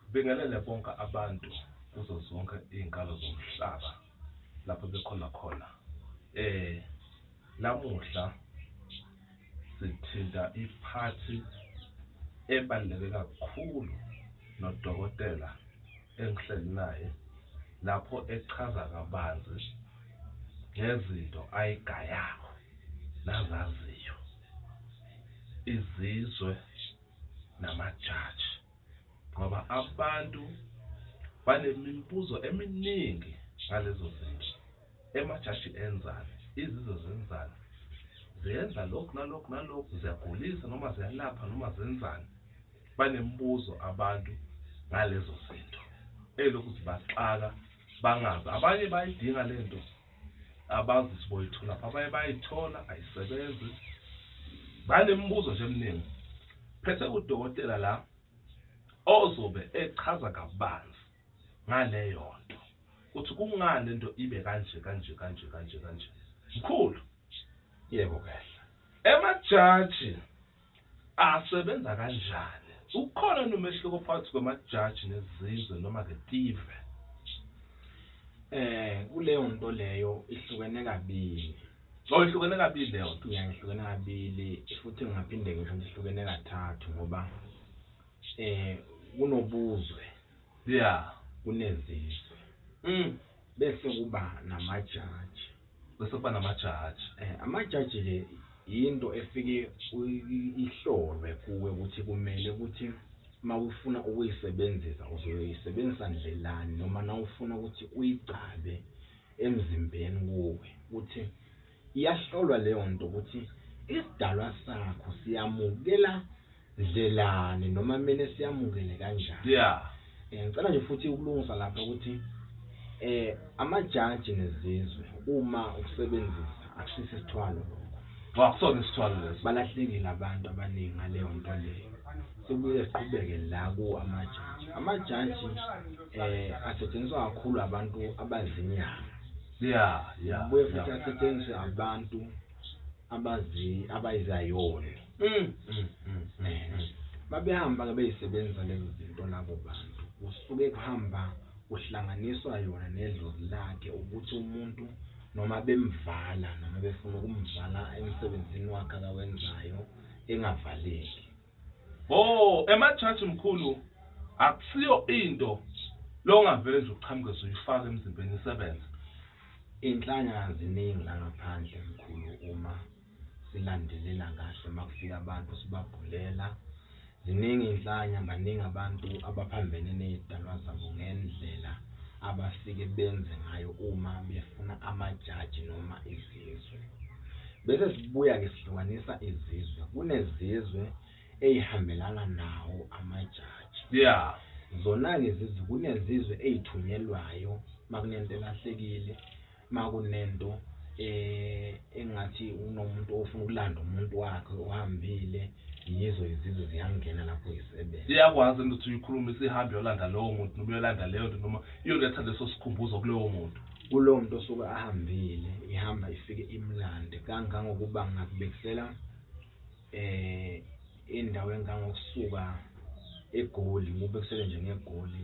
Sibingelele bonke abantu kuzo zonke iy'nkalo zomhlaba lapho bekhona khona. Namuhla sithinta iphathi ebaluleke kakhulu nodokotela engihleli naye lapho echaza kabanzi ngezinto ayigayako nazaziyo. Izizwe namajaji ngoba abantu banemimbuzo eminingi ngalezo zinto emajaji enzani izizwe zenzani ziyenza lokhu nalokhu nalokhu ziyagulisa noma ziyalapha noma zenzani banemibuzo abantu ngalezo zinto elokhu zibaxaka bangazi abanye bayidinga lento Abazi ukuthi boyitholaphi abanye bayayithola ayisebenzi. Banemibuzo nje eminingi. Phethe udokotela la ozobe echaza kabanzi ngaleyo nto ukuthi kungani lento ibe kanje kanje kanje kanje kanje. Mkhulu. Yebo kahle. Emajaji. Asebenza kanjani? Ukhona yini umehluko phakathi kwamajaji nezizwe noma-ke tive? Eh, kuleyo nto leyo ihlukene kabili. Oh, ihlukene kabili leyo nto. Ya, ihlukene kabili futhi ngingaphinde ngisho ukuthi ihlukene kathathu ngoba eh kunobuzwe Yeah. kunezizwe Mm. bese kuba namajaji. bese kuba namajaji eh amajaji ke into efike ihlolwe kuwe ukuthi kumele ukuthi mawufuna ukuyisebenzisa uzoyisebenzisa ndlelani noma nawufuna ukuthi uyicabe emzimbeni kuwe ukuthi iyahlolwa leyo nto ukuthi isidalwa sakho siyamukela Ndlelane noma mina siyamukele kanjani yeah eh, ngicela nje futhi ukulungisa lapha ukuthi eh amajaji nezizwe uma ukusebenzisa akusisi isithwalo wa kusona isithwalo leso balahlekile abantu abaningi ngaleyo nto leyo sibuye siqhubeke la ku amajaji amajaji eh asetshenziswa kakhulu abantu abazinyanga yeah yeah buye futhi asetshenziswe abantu abazi abayizayona Mm, mm, mm, mm. babehamba ke beyisebenzisa lezo zinto labo bantu kusuke kuhamba kuhlanganiswa yona nedlozi lakhe ukuthi umuntu noma bemvala noma befuna ukumvala emsebenzini wakhe akawenzayo engavaleki oh emajaji mkhulu akusiyo into longavele nje uqhamuke zoyifaka emzimbeni isebenza inhlanya ziningi la ngaphandle mkhulu uma silandelela kahle makufika abantu sibabhulela ziningi inhlanya baningi abantu abaphambene nezidalwa zabo ngendlela abafike benze ngayo uma befuna amajaji noma izizwe bese sibuya ke sihlukanisa izizwe kunezizwe eyihambelana nawo amajaji yeah zona-ke izizwe kunezizwe eyithunyelwayo makunento elahlekile Makunento engathi unomuntu ofuna ukulanda umuntu wakhe ohambile yizo izizwe ziyangena lapho zisebenza. Iyakwazi into ukuthi uyikhulume isihambe yolanda lowo muntu noma uyolanda leyo nto noma iyoletha leso sikhumbuzo kulowo muntu. Kulowo muntu osuke ahambile ihamba ifike imlande kangangokuba ngingakubekisela indawo engangokusuka eGoli ngikubekisele nje ngeGoli .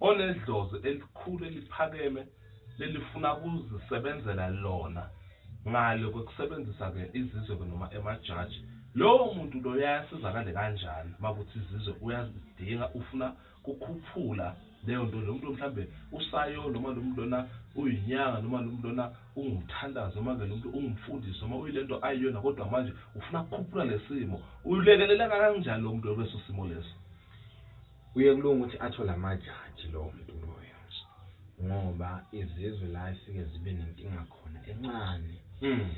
onedlozi elikhulu eliphakeme lelifuna ukuzisebenzela lona ngale kwekusebenzisa ke izizwe ke noma emajaji lowo muntu lo yayasizakale kanjani makuthi izizwe uyazidinga ufuna kukhuphula leyo nto lo muntu mhlambe usayo noma lo muntu lona uyinyanga noma lo muntu lona ungumthandazi noma ke lo muntu ungumfundisi noma uyilento ayiyona kodwa manje ufuna kukhuphula lesimo ulekeleleka kanjani lo muntu leso simo leso Kuye kulunga ukuthi athole amajaji lowo muntu loyo ngoba izizwe la esike zibe nenkinga khona encane mm.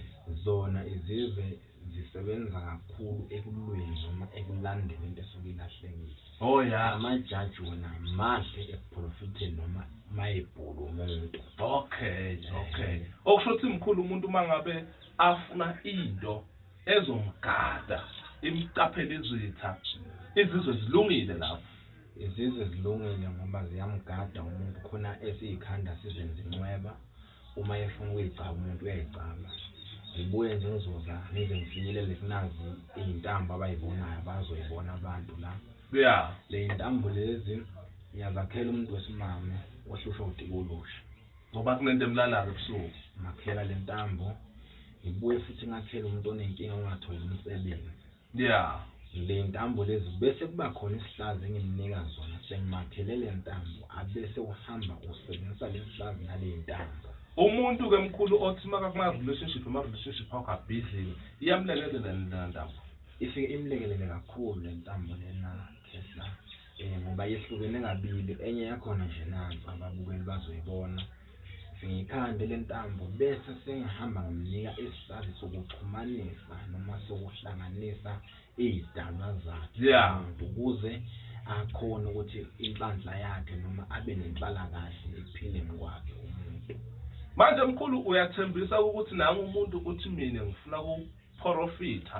zona izizwe zisebenza kakhulu ekulweni noma ekulandeni into esuke ilahlekile oh ya amajaji wona mahle ekuprofitheni noma mayebhulu umuntu okay okay okusho ukuthi mkhulu umuntu uma ngabe afuna into ezomgada imqaphele izitha izizwe zilungile lapho izizwe zilungile ngoba ziyamgada umuntu khona esiyikhanda sizenza incweba uma efuna ukuyigcaba umuntu uyayigcaba ngibuye nje ngizoza ngize ngifinyelele kunazi iy'ntambo abayibonayo bazoyibona abantu la ya ley'ntambo lezi ngiyazakhela umuntu wesimame ohlushwa udikolosha Ngoba kunento emlalayo ebusuku. Ngakhela le ntambo. Ngibuye futhi ngakhela umuntu onenkinga ongatholi umsebenzi. Yeah. Le ntambo lezi bese kuba khona isihlazi engimnika zona sengimakhele le ntambo abese uhamba usebenzisa le sihlazi nale ntambo. Umuntu ke mkhulu othi maka kuma relationship ama relationship akho abhizi iyamlekelela le ntambo. Ifike imlekelele kakhulu le ntambo lena. um ngoba yehlukene kabili enye yakhona nje nanso ababukeli bazoyibona sengiyikhande le ntambo bese sengihamba ngimnika isisazi sokuxhumanisa noma sokuhlanganisa iy'dalwa zakhe ukuze akhone ukuthi inhlanhla yakhe noma abe nenhlalakahle ekuphileni kwakhe umuntu manje mkhulu uyathembisa ukuthi nangu umuntu ukuthi mina ngifuna ukuphorofitha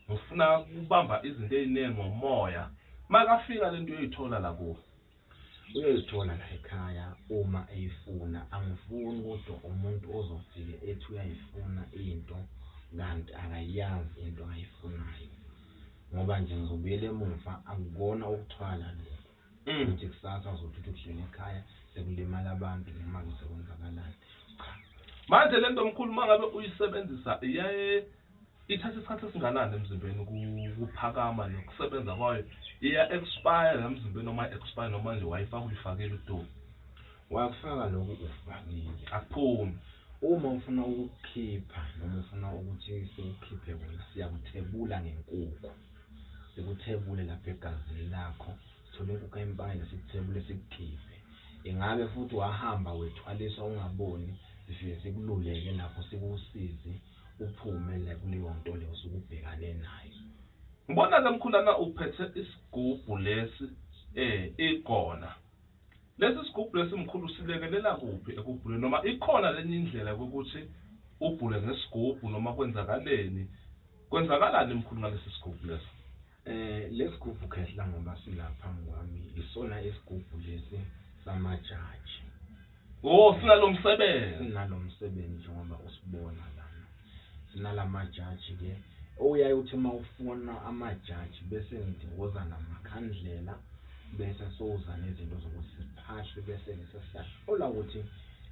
ngifuna ukubamba izinto eziningi ngomoya makafika lento uyoyithola la kuwe uyoyithola la ekhaya uma eyifuna angifuni kodwa umuntu ozofike ethi uyayifuna into kanti akayazi into ayifunayo ngoba nje ngizobuyela emuva akukona ukuthwala lokho mm. ukuthi kusasa uzothutha ukuhlele ekhaya sekulimala abantu noma-ke sekwenzakalani cha manje le nto mkhulu uma ngabe uyisebenzisa iyaye Ithatha isikhathi esinganani emzimbeni ukuphakama nokusebenza kwayo iya expire emzimbeni noma expire noma nje wayifaka uyifakile udumo wakufaka lokhu ufakile akuphumi uma ufuna ukukhipha noma ufuna ukuthi sikukhiphe wena siyakuthebula ngenkukhu sikuthebule lapha egazini lakho sithole inkukhu empangile sikuthebule sikukhiphe ingabe futhi wahamba wethwaliswa ungaboni sifike sikululeke lapho sikusize uphume le kuleyonto le osuke ubhekane nayo. Ngibona ke mkhulana uphethe isigubhu lesi eh igona. Lesi sigubhu lesi mkhulu silekelela kuphi ekubhuleni noma ikhona lenye indlela ukuthi ubhule ngesigubhu noma kwenzakaleni? Kwenzakalani mkhulu ngalesi sigubhu lesi? Eh lesgubhu khehla ngoba sila phambi kwami isona isgubhu lesi sama judge. Oh sinalomsebenzi. Sinalomsebenzi ngoba usibona lana. Sinalama judge ke oyaye uthi mawufona ama judge bese ngidiwoza namakhandlela bese soza nezinto zokuthi siphahle bese sesiyahlola ukuthi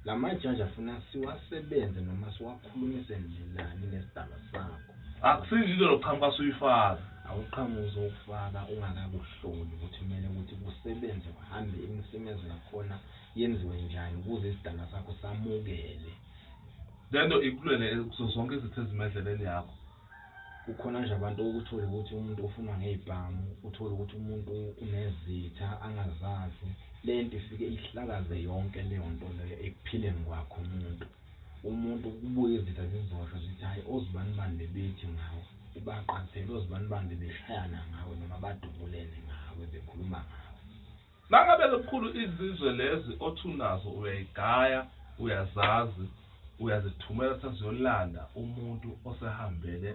Lamajaji afuna siwasebenze noma siwakhulumise ndlelani nesidalwa sakho. Akusinje into lo qhamuka suyifaka. Awuqhamuki uzowufaka ungakakuhloli ukuthi kumele ukuthi kusebenze kuhambe imisebenzi yakhona yenziwe njani ukuze isidalwa sakho samukele. Lento ikulwele kuzo zonke izitha ezima endleleni yakho. Kukhona nje abantu uthole ukuthi umuntu ufunwa ngezibhamu, uthole ukuthi umuntu unezitha angazazi. Lento ifike ihlakaze yonke leyo nto leyo ekuphileni kwakhe umuntu. Umuntu kubuye izitha zizosho zithi hhayi ozibani bani bebethi ngawe, ubaqathele ozibani bani bebeshayana ngawe noma badubulene ngawe bekhuluma ngawe. Mangabe lukhulu izizwe lezi othi unazo uyayigaya uyazazi uyazithumela seziyolanda umuntu osehambele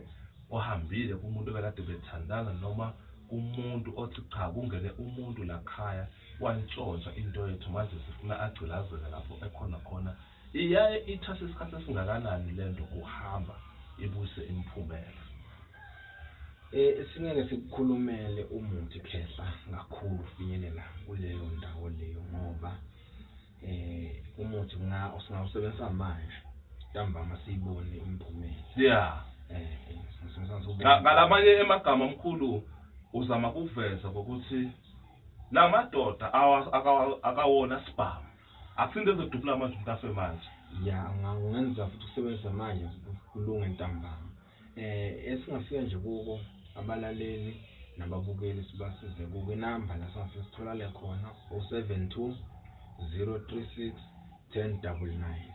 ohambile kumuntu obekade bethandana noma kumuntu othi cha kungene umuntu lakhaya wantshontsha into yethu manje sifuna agcilazeke lapho ekhona khona Iyaye ithathe isikhathi esingakanani lento kuhamba ibuyise imiphumela? Singeke sikukhulumele umuthi khehla kakhulu finyelela kuleyo ndawo leyo ngoba eh umuthi nga usingawusebenzisa manje ntambama siyibone imiphumela yeah eh ngalamanye emagama omkhulu uzama kuveza ukuthi lamadoda akawona sibhamu Akusinde ezodubula amazwi mntase manje. Ya ngangenza futhi usebenza manje kulunga ntambama. Eh esingafika nje kuko abalaleli nababukeli sibasize kuko inamba la singafika sitholale khona 072 036 1099.